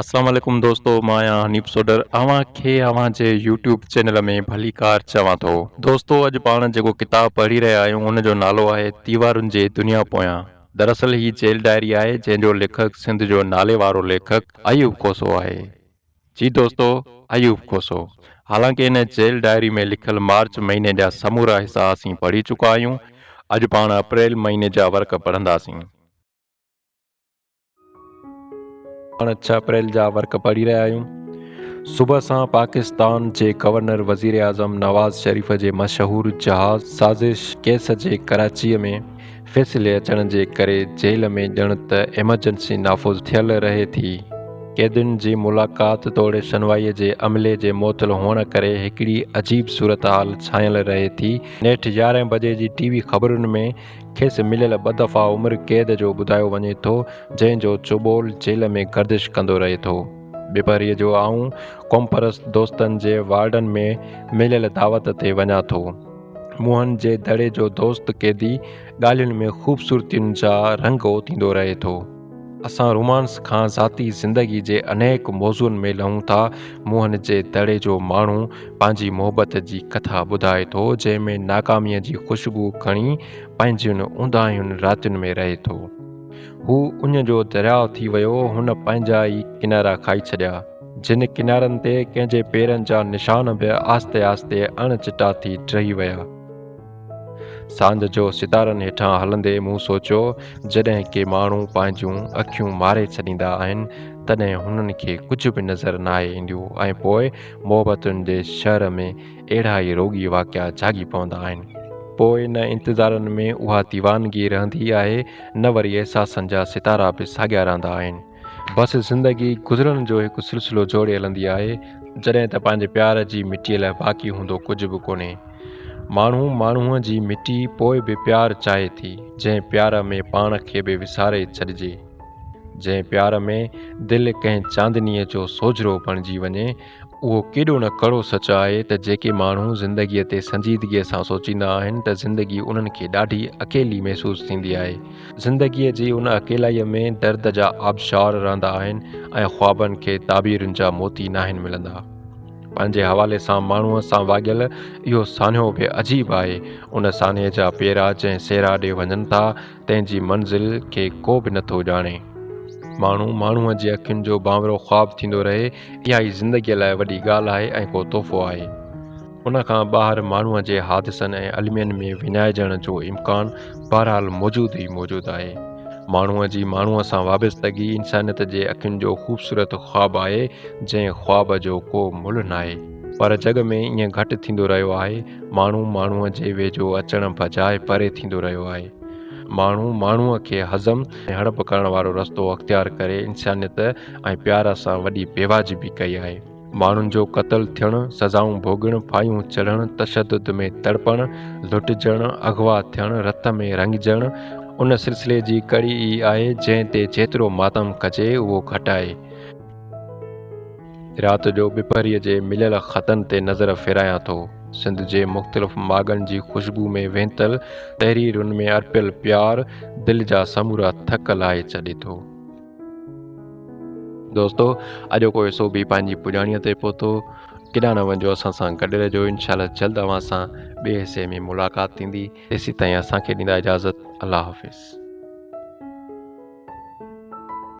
اسلام عليڪم دوستو مان آهيان حنيف سوڊر اوهان کي اوهان جي يوٽيوب چينل ۾ ڀليڪار چوان ٿو دوستو اڄ پاڻ جيڪو ڪتاب پڙهي رهيا آهيون ان جو نالو آهي تيوارن جي دنيا پويان دراصل هي جيل ڊائري آهي جنهن جو ليکڪ سنڌ جو نالي وارو ليکڪ ايوب کوسو آهي جي دوستو ايوب کوسو حالانڪه ان جيل ڊائري ۾ لکيل مارچ مهيني جا سمورا حصا اسين پڙهي چڪا آهيون اڄ پاڻ اپريل مهيني جا ورق پڙهنداسين. پاڻ ڇهه اپريل جا ورق پڙهي رهيا آهيون صبح سان پاڪستان جي گورنر وزيراعظم نواز شريف جي مشهور جهاز سازش ڪيس جي ڪراچي ۾ فيصلي اچڻ جي ڪري جيل ۾ ڄڻ ته ايمرجنسي نافذ ٿيل رهي ٿي قيدين جي ملاقات توڙي شنوائي جي عملي جي معطل هئڻ ڪري هڪڙي عجيب صورتحال ڇانيل رهي ٿي نيٺ يارهن بجي جي ٽي وي خبرن ۾ کيس مليل ٻه دفعا عمر قيد جو ٻڌايو وڃي ٿو، جنهن جو چوٻول جيل ۾ گردش ڪندو رهي ٿو. ٻپهريء جو آئون قومپرست دوستن جي وارڊن ۾ مليل دعوت تي وڃان ٿو. منهن جي دڙي جو دوست قيدي ڳالهين ۾ خوبصورتين جا رنگ اوتيندو رهي ٿو. اسان رومانس کان ذاتي زندگي جي انيڪ موضوعن ۾ لهون ٿا. موهن جي دڙي جو ماڻهو پنهنجي محبت جي ڪٿا ٻڌائي ٿو، جنهن ۾ ناڪاميء جي خوشبو کڻي پنهنجين اونداهين راتين ۾ رهي ٿو. هو اڃ جو درياء ٿي ويو، هن پنهنجا ئي ڪنارا کائي ڇڏيا، جن ڪنارن تي ڪنهن جي پيرن جا نشان به آهستي آهستي اڻ چٽا ٿي ڊهي ويا. ساند جو ستارن هيٺان هلندي مون سوچيو جڏهن ڪي ماڻهو پنهنجون اکيون ماري ڇڏيندا آهن تڏهن هنن کي ڪجهه به نظر ناهي اينديو ۽ پوء محبتن جي شهر ۾ اهڙا ئي روڳي واقعا جاڳي پوندا آهن پوء نه انتظارن ۾ اها ديوانگي رهندي آهي نه وري احساسن جا ستارا به ساڳيا رهندا آهن. بس زندگي گذرڻ جو هڪ سلسلو جوڙي هلندي آهي، جڏهن ته پنهنجي پيار جي مٽيء لاء باقي هوندو ڪجهه به ڪونهي. ماڻهو ماڻهوء جي مٽي پوء به پيار چاهي ٿي، جنهن پيار ۾ پاڻ کي به وساري ڇڏجي. جنهن پيار ۾ دل ڪنهن چاندنيء جو سوجهرو بڻجي وڃي، اهو ڪيڏو نه ڪڙو سچ آهي ته جيڪي ماڻهو زندگيء تي سنجيدگيء سان سوچيندا آهن ته زندگي انهن کي ڏاڍي اڪيلي محسوس ٿيندي آهي. زندگيء جي ان اڪيلائيء ۾ درد جا آبشار رهندا آهن ۽ خوابن کي تعبيرن جا موتي ناهن ملندا. پنهنجي حوالي سان ماڻهوء سان واڳيل اهو سانحو به عجيب آهي. ان سانحي جا پيرا جنهن صحرا ڏي وڃن ٿا، تنهن جي منزل کي ڪو به نٿو ڄاڻي. ماڻهو ماڻهوء جي اکين جو بانورو خواب ٿيندو رهي، اها ئي زندگيء لاء وڏي ڳالهه آهي ۽ ڪو تحفو آهي. ان کان ٻاهر ماڻهوء جي حادثن ۽ المين ۾ وڃائجڻ جو امڪان بهرحال موجود ئي موجود آهي. ماڻهوء جي ماڻهوء سان وابستگي انسانيت جي اکين جو خوبصورت خواب آهي، جنهن خواب جو ڪو ملهه ناهي. پر جڳ ۾ ائين گهٽ ٿيندو رهيو آهي. ماڻهو ماڻهوء جي ويجهو اچڻ بجاء پري ٿيندو رهيو آهي. ماڻهو ماڻهوء کي هضم ۽ هڙپ ڪرڻ وارو رستو اختيار ڪري انسانيت ۽ پيار سان وڏي بيواجبي ڪئي آهي. ماڻهن جو قتل ٿيڻ، سزائون ڀوڳڻ، ڦاهيون چڙهڻ، تشدد ۾ تڙپڻ، لٽجڻ، اغوا ٿيڻ، رت ۾ رڱجڻ ان سلسلي جي ڪڙي ئي آهي، جنهن تي جيترو ماتم ڪجي اهو گهٽ آهي. رات جو ٻپهريء جي مليل خطن تي نظر ڦيرايان ٿو. سنڌ جي مختلف ماڳن جي خوشبو ۾ وينتل تحريرن ۾ ارپيل پيار دل جا سمورا ٿڪ لاهي ڇڏي ٿو. دوستو اڄوڪو حصو به پنهنجي پڄاڻيء تي پهتو. ڪيڏانهن نه وڃجو اسان سان گڏ رهجو انشاء الله جلد اوهان سان ٻئي حصي ۾ ملاقات ٿيندي تيسيتائين اسان کي ڏيندا اجازت الله حافظ.